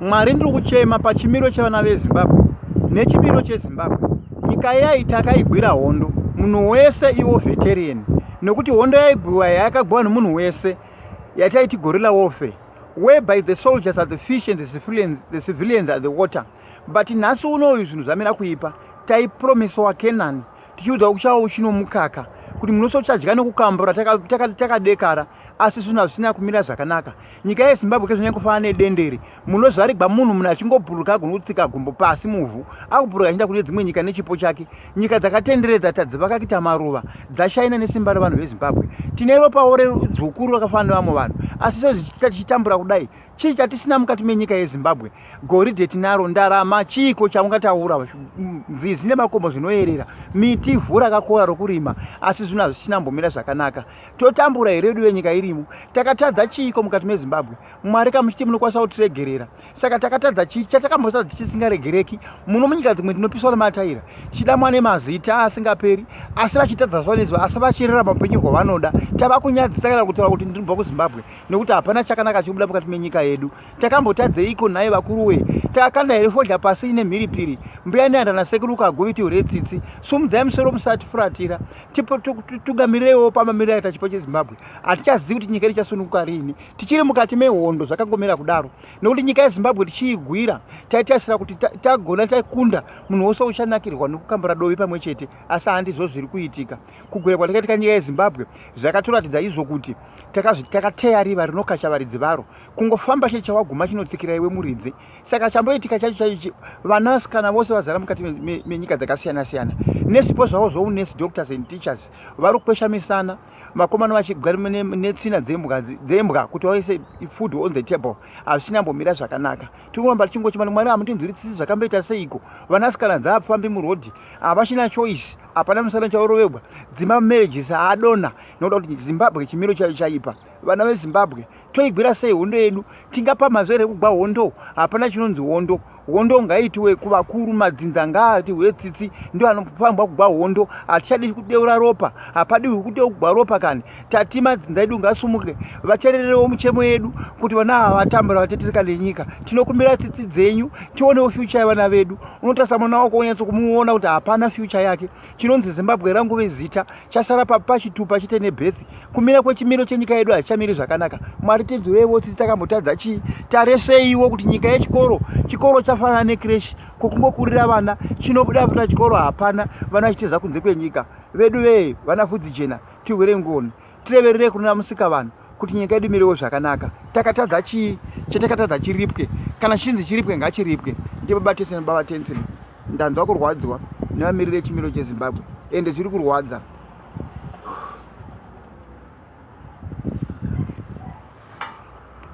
mwari ndiri kuchema pachimiro chevana vezimbabwe nechimiro chezimbabwe nyika iyai takaigwira hondo munhu wese iwo veterian nekuti hondo yaigwiwa yayakagwiwa nemunhu wese yataiti gorilla warfare whereby the soldiers are the fish and the civilians, the civilians are the water but nhasi unoyu zvinhu zvamira kuipa taipromisewa kenani tichiudza kuchava uchino mukaka kuti munosochadya nekukambura takadekara taka, taka asi zvinhu hazvisina kumira zvakanaka nyika yezimbabwe kezvanyanya kufanana nedenderi munozvarigwa munhu munhu achingobhuruka agona kutsika gumbo pasi muvhu akubhuruka achienda kune dzimwe nyika nechipo chake nyika dzakatenderedza tadzivakakita maruva dzashaina nesimba revanhu vezimbabwe tine ropawo redzukuru rakafanana nevamwe vanhu asi sezvichiita tichitambura kudai chii chatisina mukati menyika yezimbabwe goridhe tinaro ndarama chiiko chaungataura mm, nzizi nemakomo zvinoyerera miti vhu rakakora rokurima asi zvinhu hazvichinambomira zvakanaka totambura here vedu venyika irimo takatadza chiiko mukati mezimbabwe mwari kamuchiti munokwanisa kutiregerera saka takatadza chii chatakambotadza chisingaregereki muno munyika dzimwe tinopiswa nemataira tichidamwa nemazita asingaperi asi vachitadza zuva nezuva asi vachirera mapenyu kwavanoda tava kunyadzisa kana kutaura kuti ndinobva kuzimbabwe nekuti hapana chakanaka chikubuda mukati menyika yedu takambotadzeiko nhai vakuru wee takakanda here fodya pasi ine mhiripiri mbuya neandana sekuruka agoviti hure tsitsi sumudzai musoro musati furatira tugamireiwo pamamiro aita chipo chezimbabwe hatichazivi kuti nyika ichasununguka riini tichiri mukati mehondo zvakangomira kudaro nekuti nyika yezimbabwe tichiigwira taitarisira kuti tagona takunda munhu wose uchanakirwa nekukambura dovi pamwe chete asi handizvo zviri kuitika kugwira kwatakaitika nyika yezimbabwe zvakatoratidza izvo kuti takazviti takateya riva rinokacha varidzi varo kungofamba cheche waguma chinotsikira iwe muridzi saka chamboitika chacho chaichi vanasikana vose vazara mukati menyika dzakasiyana siyana nezvipo zvavo zvounesi doctors and teachers vari kukwesha misana makomano vachigwa netsvina dzembwa kuti vaise food on the table hazvichina mbomira zvakanaka tinoramba tichingochimani mwari hamutinzwiritsisi zvakamboita seiko vanasikana dzaapfambi murodhi havachina choice hapana musana chaurovegwa dzima marriages haadona nokuda kuti zimbabwe chimiro chayo chaipa vana vezimbabwe toigwira sei hondo yedu tingapamhazve here kugwa hondo hapana chinonzi hondo hondo ngaitiwe kuvakuru madzinza ngaati hwetsitsi ndo anopambwa kugwa hondo hatichadi kudeura ropa hapadiwi kuteu kugwa ropa kani tati madzinza edu ngasumuke vatererewo muchemo yedu kuti vana ava vatambura vatetereka nenyika tinokumbira tsitsi dzenyu tionewo fyucha yevana vedu unotarisa mwana wako unyatsokumuona kuti hapana fyucha yake chinonzi zimbabwe rangove zita chasara papi pachitupa chete nebhethi kumira kwechimiro chenyika yedu hazichamiri zvakanaka mwari tinzwireiwo tsitsi takambotadza chii tareseiwo kuti nyika yechikoro chikoro chafanana nekreshi kokungokurira vana chinobuda vana chikoro hapana vana vachiteza kunze kwenyika vedu vee vana fudzi jena tihwire ngoni tirevererei kunona musika vanhu kuti nyika yedu imirewo zvakanaka takatadza chii chatakatadza chiripwe kana chinzi chiripwe ngachiripwe ndibaba tese nebaba tensen ndanzwa kurwadziwa nevamiriri echimiro chezimbabwe ende zviri kurwadza